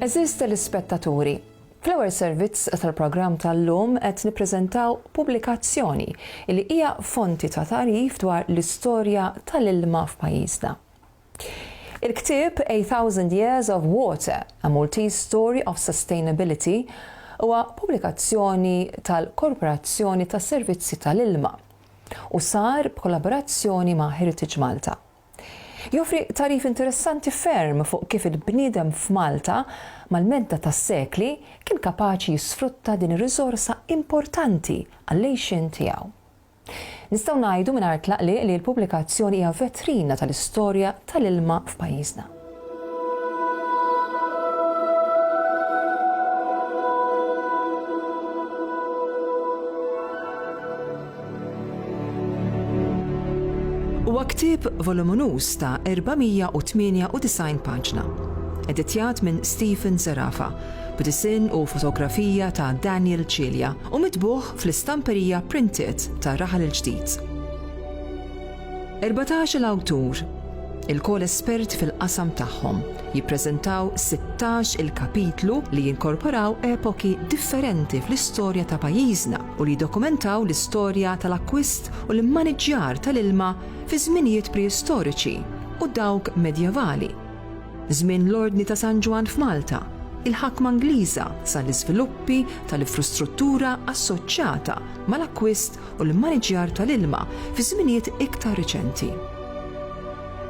Għeżież telespettaturi, fl-ewwel servizz tal-programm tal-lum qed nippreżentaw pubblikazzjoni li hija fonti ta' tagħrif dwar l-istorja tal-ilma f'pajjiżna. Il-ktieb A Thousand Years of Water, A Maltese Story of Sustainability huwa pubblikazzjoni tal-Korporazzjoni tas-Servizzi tal-Ilma u sar b'kollaborazzjoni ma' Heritage Malta. Joffri tagħrif interessanti ferm fuq kif il-bniedem f'Malta, mal-medda tas-sekli, kien kapaċi jisfrutta din ir-riżorsa importanti għall-għixien tiegħu. Nistgħu ngħidu mingħajr tlaqliq li l-pubblikazzjoni hija vetrina tal-istorja tal-ilma f'pajjiżna. Huwa ktieb voluminuż ta' 498 paġna, editjat minn Stephen Zerafa, b'disinn u fotografija ta' Daniel Cilia u mitbugħ fl-istamperija Printiet ta' Raħal il-Ġdid. Erbatax-il awtur, ilkoll esperti fil-qasam tagħhom, jippreżentaw sittax-il kapitlu li jinkorporaw epoki differenti fl-istorja ta' pajjiżna u li jiddokumentaw l-istorja tal-akkwist u l-immaniġġjar tal-ilma fi żminijiet preistoriċi u dawk medjevali, żmien l-Ordni ta' San Ġwann f'Malta, il-ħakma Ingliża sa l-iżviluppi tal-infrustruttura assoċjata mal-akkwist u l-immaniġġjar tal-ilma fi żminijiet iktar riċenti.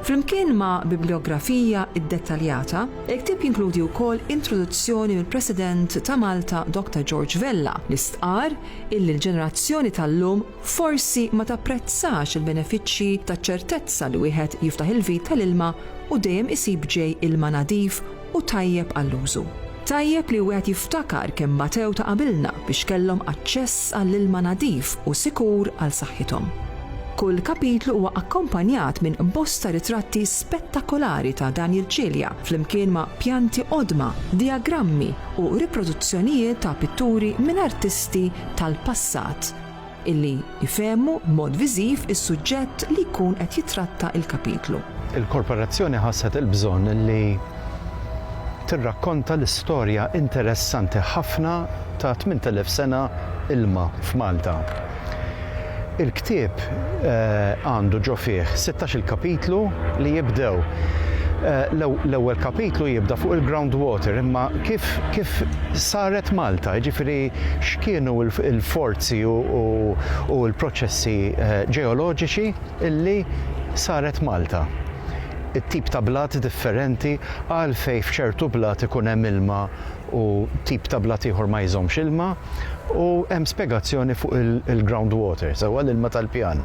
Flimkien ma' bibliografija ddettaljata, il-ktieb jinkludi wkoll introduzzjoni mill-President ta' Malta Doctor George Vella li stqarr illi l-ġenerazzjoni tal-lum forsi ma tapprezzax il-benefiċċji taċ-ċertezza li wieħed jiftaħ il-vit tal-ilma u dejjem isib ġej ilma nadif u tajjeb għall-użu. Tajjeb li wieħed jiftakar kemm batew ta' qabilna biex kellhom aċċess għall-ilma nadif u sikur għal saħħithom. Kull kapitlu huwa akkompanjat minn bosta ritratti spettakolari ta' Daniel Cilia flimkien ma' pjanti qodma, dijagrammi u riproduzzjonijiet ta' pitturi minn artisti tal-passat. illi jfehmu b'mod viżiv is-suġġett li jkun qed jittratta l-kapitlu. Il-Korporazzjoni ħasset il-bżonn li tirrakkonta l-istorja interessanti ħafna ta' 8,000 sena ilma f'Malta. Il-ktieb għandu ġo fih sittax-il kapitlu li jibdew. L-ewwel kapitlu jibda fuq il-ground water, imma kif saret Malta, jiġifieri x'kienu l-forti, l-ispazji u l-proċessi ġeoloġiċi li saret Malta. It-tip ta' blat differenti, għalfejn f'ċertu blat ikun hemm ilma u tip ta' blat ieħor ma jżommx ilma u hemm spjegazzjoni fuq il-ground water, sewwa l-ilma tal-pjan.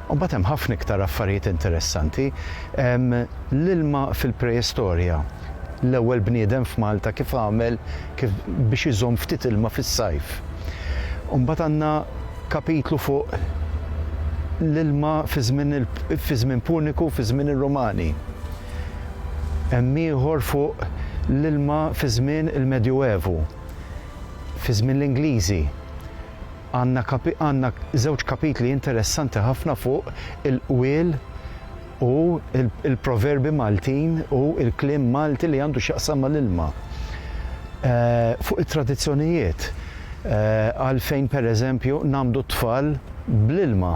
U mbagħad hemm ħafna iktar affarijiet interessanti. Hemm l-ilma fil-preistorja. l-ewwel bniedem f'Malta kif għamel kif biex iżomm ftit ilma fis-sajf. U mbagħad għandna kapitlu fuq l-ilma fi żmien il fi żmien Puniku u fi żmien ir-Rumani. Hemm ieħor fuq l-ilma fi żmien il-Medjuevu, fi żmien l-Ingliżi. Għandna kapi għandna żewġ kapitli interessanti ħafna fuq il-qwiel u l-proverbi Maltin u l-kliem Malti li għandu x'jaqsam mal-ilma. Fuq it-tradizzjonijiet, għalfejn pereżempju ngħammdu t-tfal bl-ilma,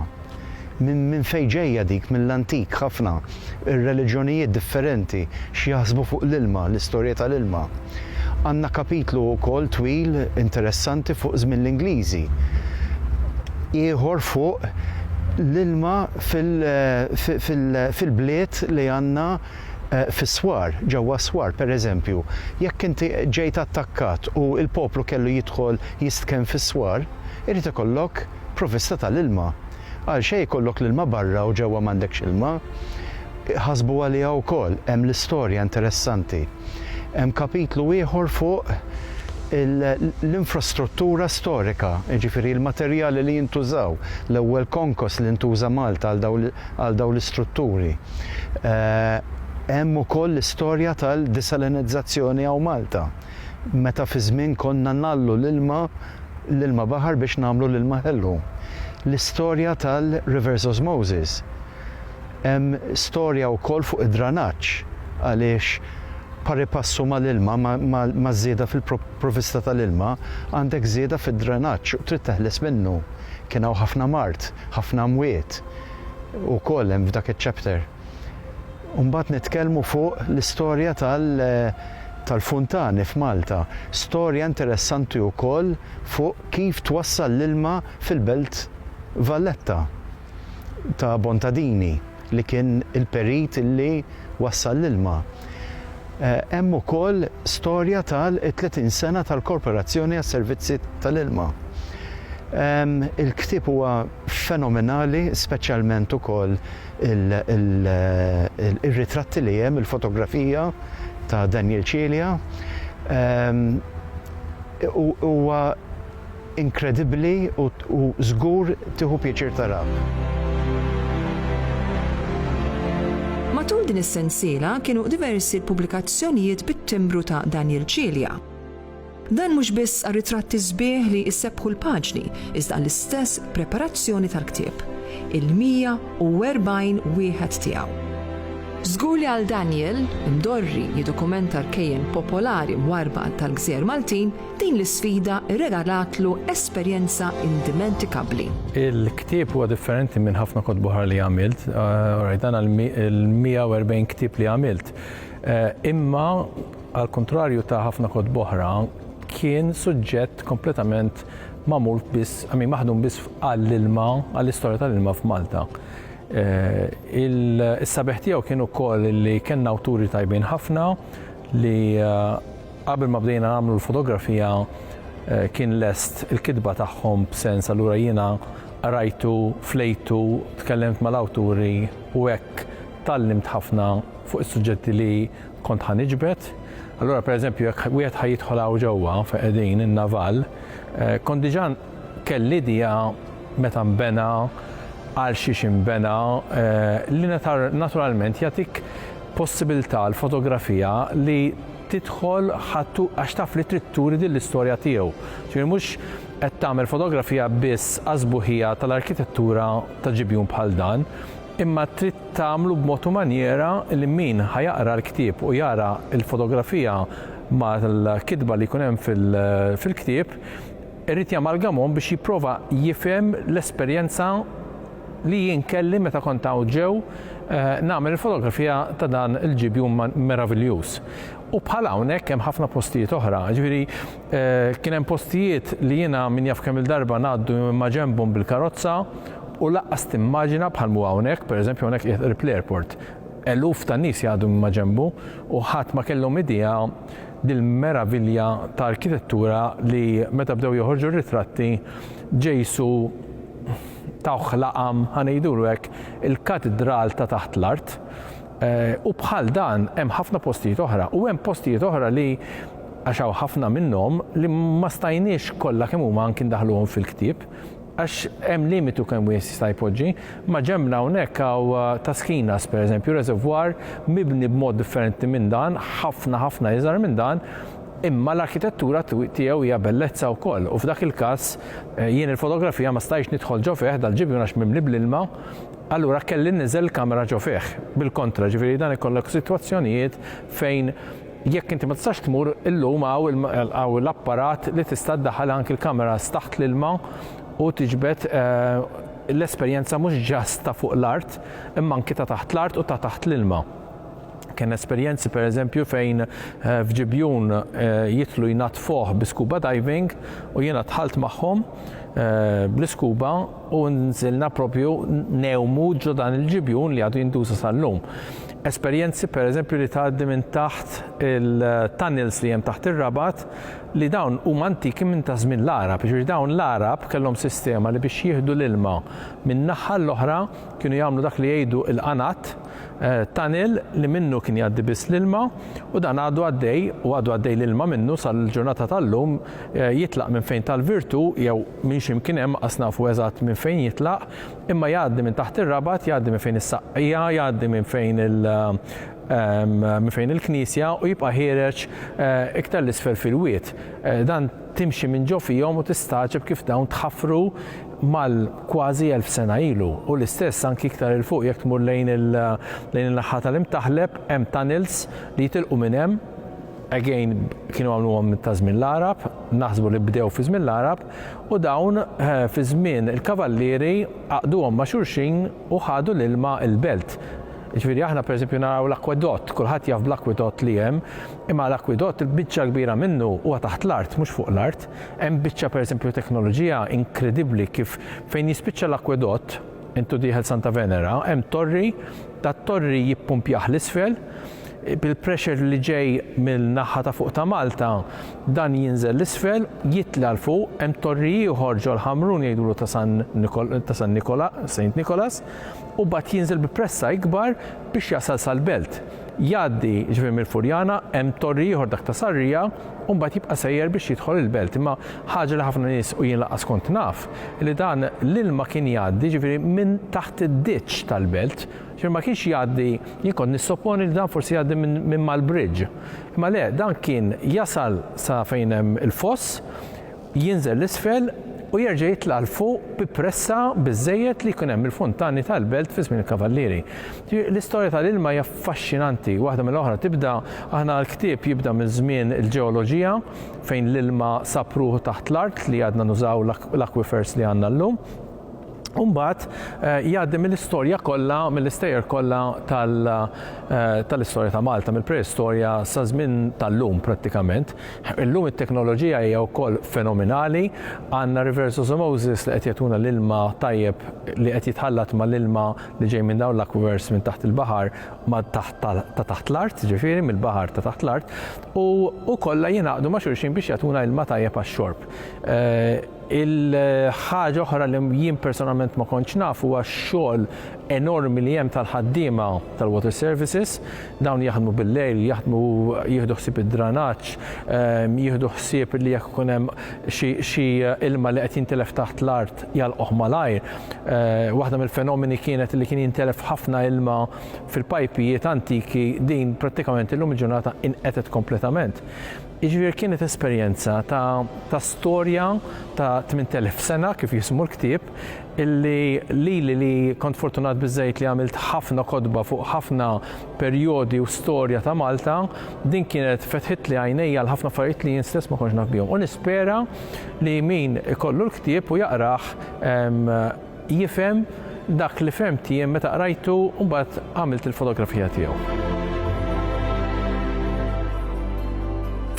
minn fejn ġejja dik mill-antik ħafna, ir-reliġjonijiet differenti x'jaħsbu fuq l-ilma, l-istorja tal-ilma. Għandna kapitlu wkoll twil interessanti fuq żmien l-Ingliżi, ieħor fuq l-ilma, fil-bliet li għandna fis-swar, ġewwa s-swar, pereżempju, jekk inti ġejt attakkat u l-poplu kellu jidħol jistkenn fis-swar, irid ikollok provvista tal-ilma. Għalxejn ikollok l-ilma barra u ġewwa m'għandekx ilma. Ħasbu għaliha wkoll, hemm l-istorja interessanti. Hemm kapitlu ieħor fuq l-infrastruttura storika, jiġifieri l-materjali li jintużaw, l-ewwel konkos li ntuża Malta għal dawn l-istrutturi. Hemm ukoll l-istorja tal-disalinizzazzjoni hawn Malta, meta fi żmien konna ngħallu l-ilma, l-ilma baħar biex nagħmlu l-ilma ħelu. L-istorja tal-reverse osmosis. Hemm storja wkoll fuq id-dranaġġ għaliex pari passu mal-ilma, maż-żieda fil-provvista tal-ilma, għandek żieda fid-dranaġġ u trid teħles minnu. Kien hawn ħafna mard, ħafna mwiet ukoll hemm f'dak iċ-chapter. U mbagħad nitkellmu fuq l-istorja tal-funtani f'Malta. Storja interessanti wkoll fuq kif twassal l-ilma fil-Belt Valletta. ta' Bontadini li kien il-perit li wassal l-ilma. Hemm ukoll storja tal-30 sena tal-Korporazzjoni għas-Servizzi tal-Ilma. Il-ktieb huwa fenomenali, speċjalment ukoll ir-ritratti li hemm, il-fotografija ta' Daniel Cilia. Huwa. Inkredibbli u żgur tieħu pjaċir taraha. Matul din is-sensiela kienu diversi l-pubblikazzjonijiet bit-timbru ta' Daniel Cilia. Dan mhux biss għar-ritratti sbieħ li jsebbħu l-paġni iżda għall-istess preparazzjoni tal-ktieb, il-140 wieħed tiegħu. Żgur li għal Daniel, imdorri jiddokumenta rkejjen popolari mwarrba tal-gżejjer Maltin, Din l-isfida rregalatlu esperjenza indimentikabbli. Il-ktieb huwa differenti minn ħafna kotbuħar li għamilt, rajt dan il-140 ktieb li għamilt. Imma għal kontrarju ta' ħafna kotboħra, kien suġġett kompletament magħmul biss, għamin maħdum biss għall-ilma, għall-istorja tal-ilma f'Malta. Il-sabeħ tiegħu kien ukoll li kellna awturi tajbin ħafna li Qabel ma bdejna nagħmlu l-fotografija kien lest il-kitba tagħhom b'sens allura jiena qrajtu, flejtu, tkellimt mal-awturi u hekk tgħallimt ħafna fuq is-suġġetti li kont ħa niġbed. Allura pereżempju jekk wieħed ħa jidħol hawn ġewwa fejn qegħdin in-Naval kont diġà kelli idea meta nbena, għalxiex inbena li naturalment jagħtik possibilità l-fotografija li tidħol ħa għax taf li trid turi din l-istorja tiegħu. Ġifieri mhux qed tagħmel fotografija biss għas-sbuħija tal-arkitettura ta' ġibjun bħal dan, imma trid tagħmlu b'mod u manjiera li min ħa jaqra l-ktieb u jara l-fotografija mal-kitba li jkun hemm fil-ktieb irid jamalgamhom biex jipprova jifhem l-esperjenza li jien kelli meta kont hawn ġew nagħmel il-fotografija ta' dan il-ġibjun meraviljuż. U bħal hawnhekk hemm ħafna postijiet oħra. Ġifieri kien hemm postijiet li jiena min jaf kemm-il darba ngħaddu minn maġenbhom bil-karozza u laqqas timmaġina bħal m'hu hawnhekk, pereżempju hawnhekk qiegħed qrib l-airport, eluf ta' nies jgħaddu minn maġenbu u ħadd ma kellhom idea dil-meravilja ta' arkitettura li meta bdew joħorġu r-ritratti Ġejsu tawh laqam, ħa ngħidulu hekk, il-katidral ta' taħt l-art. U bħal dan hemm ħafna postijiet oħra u hemm postijiet oħra li għax hawn ħafna minnhom li ma stajniex kollha kemm huma anki ndaħluhom fil-ktieb għax hemm limitu kemm wieħed jista' jpoġġi, ma' ġembna hawnhekk hawn uh, Taskinas pereżempju, reservoir mibni b'mod differenti minn dan, ħafna ħafna iżgħar minn dan, Imma l-arkitettura tiegħu hija bellezza wkoll u f'dak il-każ jien il-fotografija ma stajtx nidħol ġo fih dal-ġibjun għax mimli bl-ilma, allura kelli nniżżel il-kamera ġo fih. Bil-kontra, ġifieri dan ikollok sitwazzjonijiet fejn jekk inti ma tistax tmur, illum hawn l-apparat li tista' ddaħħal anki l-kameras taħt l-ilma u tiġbed l-esperjenza mhux ġast ta' fuq l-art imma anki ta' taħt l-art u ta' taħt l-ilma. Kellna esperjenzi pereżempju fejn f'Ġibjun jidħlu jnaddfuh bi scuba diving u jiena dħalt magħhom bl-iskuba u nżilna propju ngħumu ġo dan il-ġibjun li għadu jintuża sal-lum. Esperjenzi pereżempju li tgħaddi minn taħt il-tunnels li hemm taħt ir-Rabat li dawn huma antiki minn ta' żmien l-Għarab. Jiġifieri dawn l-Għarab kellhom sistema li biex jieħdu l-ilma minn naħa għall-oħra kienu jagħmlu dak li jgħidu l-qanat, tunnel li minnu kien jgħaddi biss l-ilma u dan għadu għaddej u għadu għaddej l-ilma minnu sal-ġurnata tal-lum jitlaq minn fejn tal-Virtu jew minn xi mkien hemm qas nafu eżatt minn fejn jitlaq imma jgħaddi minn taħt ir-Rabat, jgħaddi minn fejn is-Saqqija, jgħaddi minn fejn il minn fejn il-Knisja u jibqa' ħiereġ iktar 'l isfel fil-wied. Dan timxi minn ġo fihom u tistagħġeb kif dawn tħaffru mal kważi elf sena ilu u l-istess anki iktar 'il fuq jekk tmur lejn in-naħa tal-Imtaħleb hemm tunnels li jitilqu minn hemm, again kienu għamluhom ta' żmien l-Għarab, naħsbu li bdew fi żmien l-Għarab, u dawn fi żmien il-Kavallieri għaqduhom ma' xulxin u ħadu l-ilma l-belt. Jiġifieri aħna pereżempju naraw l-akwedott, kulħadd jaf bl-akwedott li hemm, imma l-akwedott il-biċċa l-kbira minnu huwa taħt l-art mhux fuq l-art. Hemm biċċa pereżempju teknoloġija inkredibbli kif fejn jispiċċa l-akwedott, intu dieħel Santa Venera, hemm torri, dat-torri jippumpjah 'l isfel, bil-pressure li ġej mill-naħa ta' fuq ta' Malta, dan jinżel 'l isfel, jitla' 'l fuq, hemm torri ieħor ġol Ħamrun jgħidulu ta' San Nicholas, Saint Nicholas, u mbagħad jinżel bi pressa ikbar biex jasal sal-belt. Jgħaddi, jiġifieri mill-Furjana, hemm torri ieħor dak ta' Sarria, u mbagħad jibqa' sejjer biex jidħol il-belt. Imma ħaġa li ħafna nies, u jien lanqas kont naf, li dan l-ilma kien jgħaddi, jiġifieri minn taħt id-ditch tal-belt. Jiġifieri ma kienx jgħaddi, jien kont nissopponi li dan forsi jgħaddi minn mal-bridge. Imma le, dan kien jasal sa fejn hemm il-foss, jinżel 'l isfel u jerġa' jitla' 'l fuq bi pressa biżżejjed li jkun hemm il-funtani tal-belt fi żmien il-kavallieri. Ġifieri l-istorja tal-ilma hija affaxxinanti waħda mill-oħra tibda, aħna l-ktieb jibda minn żmien il-ġeoloġija fejn l-ilma sab ruħu taħt l-art li għadna nużaw l-aquifers li għandna llum, u mbagħad jgħaddi mill-istorja kollha, mill-istejjer kollha tal-istorja ta' Malta, mill-preistorja sa żmien tal-lum prattikament. Illum it-teknoloġija hija wkoll fenomenali, għandna reverse osmosis li qed jagħtuna l-ilma tajjeb li qed jitħallat mal-ilma li ġej minn dawn l-aquifers minn taħt il-baħar ma' taħt ta' taħt l-art, ġifieri mill-baħar ta' taħt l-art, u kollha jingħaqdu ma' xulxin biex jagħtuna ilma tajjeb għax-xorb. Il-ħaġa oħra li jien personalment ma kontx naf huwa x-xogħol enormi li hemm tal-ħaddiema tal-Water Services. Dawn jaħdmu bil-lejl, jaħdmu jieħdu ħsieb id-dranaġġ, jieħdu ħsieb li jekk ikun hemm xi ilma li qed jintilef taħt l-art jagħlquh malajr. Waħda mill-fenomeni kienet li kien jintelef ħafna ilma fil-pajpijiet antiki, din prattikament illum il-ġurnata inqetgħet kompletament. Jiġifieri kienet esperjenza ta' ta' storja ta' tmint elf sena kif jismu l-ktieb illi lili li kont fortunat biżżejjed li għamilt ħafna kotba fuq ħafna perjodi u storja ta' Malta, din kienet fetħitli għajnejja għal ħafna affarijiet li jien stess ma kontx naf bihom. U nispera li min ikollu l-ktieb u jaqrah jifhem dak li fhemt jien meta qrajtu u mbagħad għamilt il-fotografija tiegħu.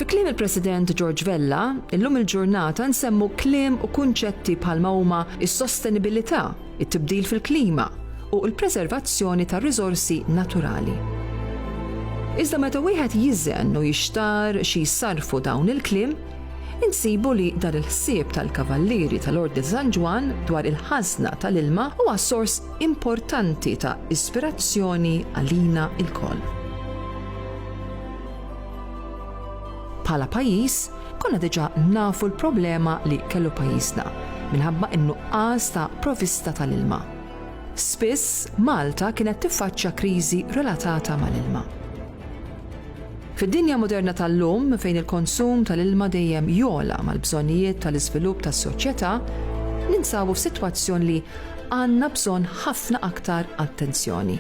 Fi kliem il-President George Vella, illum il-ġurnata nsemmu kliem u kunċetti bħalma huma s-sostenibilità, it-tibdil fil-klima u l-preservazzjoni tar-riżorsi naturali. Iżda meta wieħed jiżen u jixtar xi jsarrfu dawn il-kliem, insibu li dan il-ħsieb tal-Kavallieri tal-Ordni ta' San Ġwann dwar il-ħażna tal-ilma huwa sors importanti ta' ispirazzjoni għalina lkoll. Bħala pajjiż, konna diġà nafu l-problema li kellu pajjiżna minħabba n-nuqqas ta' provista tal-ilma. Spiss Malta kienet tiffaċċja kriżi relatata mal-ilma. Fid-dinja moderna tal-lum, fejn il-konsum tal-ilma dejjem jogħla mal-bżonnijiet tal-iżvilupp tas-soċjetà, ninsabu f'sitwazzjon li għandna bżonn ħafna aktar attenzjoni.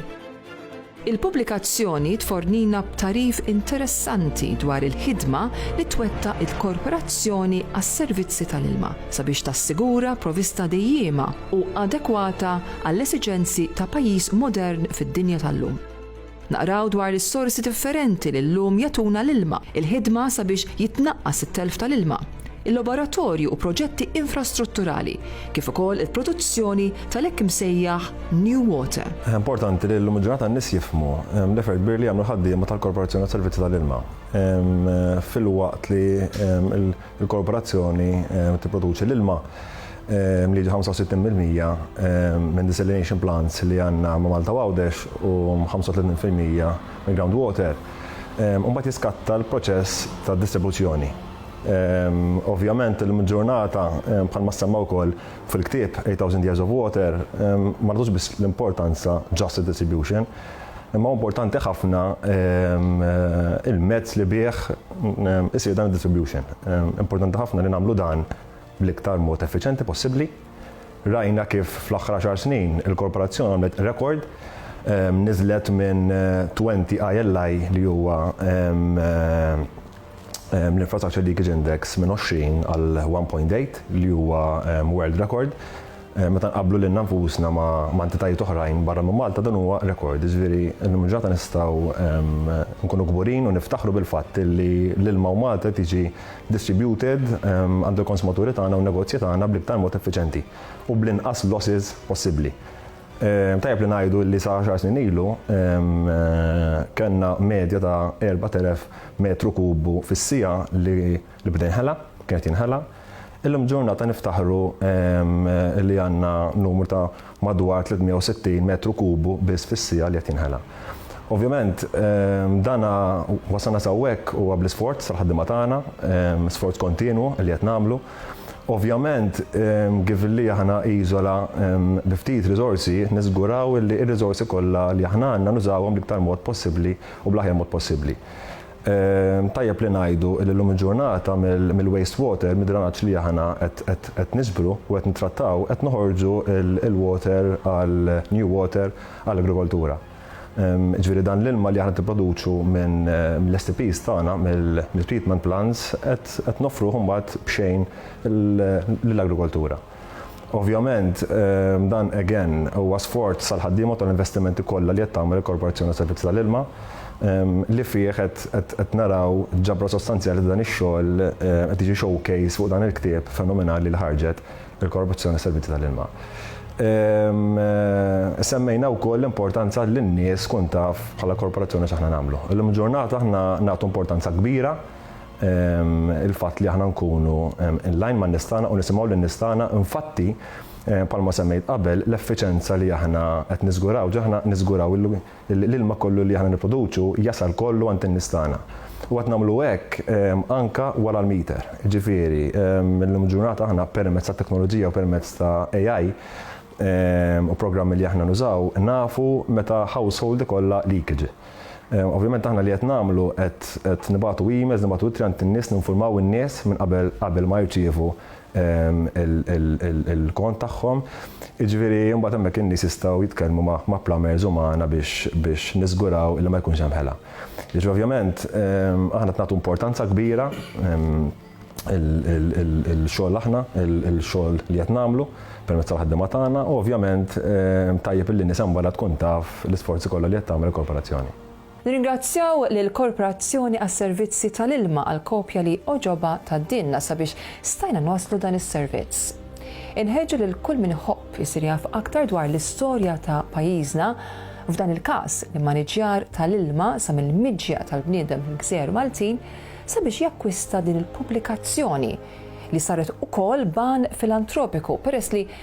Il-pubblikazzjoni tfornina b'tagħrif interessanti dwar il-ħidma li twettaq il-Korporazzjoni għas-Servizzi tal-Ilma sabiex tassigura provista dejjiema u adekwata għall-esiġenzi ta' pajjiż modern fid-dinja tal-lum. Naqraw dwar is-sorsi differenti li llum jagħtuna l-ilma, il-ħidma sabiex jitnaqqas it-telf tal-ilma, il-laboratorju u proġetti infrastrutturali, kif ukoll il-produzzjoni tal-hekk imsejjaħ new water. Importanti li llum il-ġurnata n-nies jifhmu l-effort kbir li jagħmlu l-ħaddiema tal-Korporazzjoni għas-Servizzi tal-Ilma filwaqt li Il-korporazzjoni tipproduċi l-ilma li jiġi 65 fil-mija minn desalination plants li għandna ma' Malta u Għawdex u 35 fil-mija mill-ground water. Imbagħad jiskatta l-proċess tad-distribuzzjoni. Ovvjament illum il-ġurnata, bħalma ssemma wkoll fil-ktieb 8,000 Years of Water, ma nagħtux biss l-importanza just id-distribution, Imma importanti ħafna il-mezz li bih isir dan id-distribution. Importanti ħafna li nagħmlu dan bl-iktar mod effiċenti possibbli. Rajna kif fl-aħħar xar snin il-korporazzjoni għamlet rekord niżlet minn 20 ILI li huwa ehm, l-Infrastructure Leakage Index minn 20 għal 1.8 li huwa ehm, world record. Ehm, meta nqablu lil nfusna ma' entitajiet oħrajn barra minn Malta dan huwa rekord, jiġifieri llum ġata nistgħu nkunu kburin u niftaħru bil-fatt li l-ilma u Malta tiġi distributed għand il-konsumaturi tagħna u negozji tagħna bl-iktar mod effiċenti u bl-inqas losses possibbli. Tajjeb li ngħidu li sa għaxar snin ilu kellna medja ta' 4,000 metru kubu fis-siegħa li beda jinħela, kien qed jinħela. Illum ġurnata niftaħru li għandna numru ta' madwar 360 metru kubu biss fis-siegħa li qed jinħela. Ovvjament dan wasalna s'hawnhekk huwa bl-isforz tal-ħaddiema tagħna, sforz kontinwu li qed nagħmlu. Ovvjament, given li aħna iżola bi ftit riżorsi, niżguraw li r-riżorsi kollha li aħna għandna nużawhom bl-iktar mod possibbli u bl-aħjar mod possibbli. Tajjeb li ngħidu li llum il-ġurnata mill-waste water, mid-dranaġġ li aħna qed niġbru u qed nittrattaw, qed noħorġu l-water għal new water għall-agrikoltura. Jiġifieri dan l-ilma li aħna tipproduċu minn l-STPs tagħna, mill-treatment plants, qed noffruh imbagħad b'xejn lill-agrikoltura. Ovvjament dan again huwa sforz tal-ħaddiema u tal-investimenti kollha li qed tagħmel il-Korporazzjoni għas-Servizzi tal-Ilma li fih qed naraw ġabra sostanzjali ta' dan ix-xogħol qed jiġi showcase fuq dan il-ktieb fenomenali li ħarġet il-korruzzjoni fis-servizzi tal-ilma. Semmejna wkoll l-importanza li n-nies tkun taf bħala korporazzjoni x'aħna nagħmlu. Illum il-ġurnata aħna nagħtu importanza kbira il-fatt li aħna nkunu in-line man-nies tagħna u nisimgħu lin-nies tagħna. Infatti, bħalma semmejt qabel, l-effiċenza li aħna qed niżguraw ġo aħna niżguraw L-ilma kollu li aħna nipproduċu jasal kollu għand in-nies tagħna. U qed nagħmlu hekk anke wara l-meter. Jiġifieri, illum il-ġurnata aħna permezz tat-teknoloġija u permezz ta' AI u programmi li aħna nużaw, nafu meta household ikollha leakage. Ovvjament aħna li qed nagħmlu qed nibagħtu emails, nibagħtu ittri għand in-nies, ninfurmaw in-nies minn qabel qabel ma jirċievu il-kont tagħhom. Jiġifieri mbagħad hemmhekk in-nies jistgħu jitkellmu ma' plumbers u magħna biex niżguraw li ma jkunx hemm ħela. Jiġifieri ovvjament aħna qed nagħtu importanza kbira il-xogħol aħna, il-xogħol li qed nagħmlu permezz tal-ħaddiema tagħna u ovvjament tajjeb li n-nies hemm barra tkun taf l-isforzi kollha li qed tagħmel il-korporazzjoni. Nirringrazzjaw lill-Korporazzjoni għas-Servizzi tal-Ilma għall-kopja li għoġobha tgħaddilna sabiex stajna nwasslu dan is-servizz. Inħeġġu lil kull min iħobb isir jaf aktar dwar l-istorja ta' pajjiżna, f'dan il-każ, l-immaniġġjar tal-ilma sa mill-miġja tal-bniedem fil-gżejjer Maltin, sabiex jakkwista din il-pubblikazzjoni, li saret ukoll b'għan filantropiku peress li,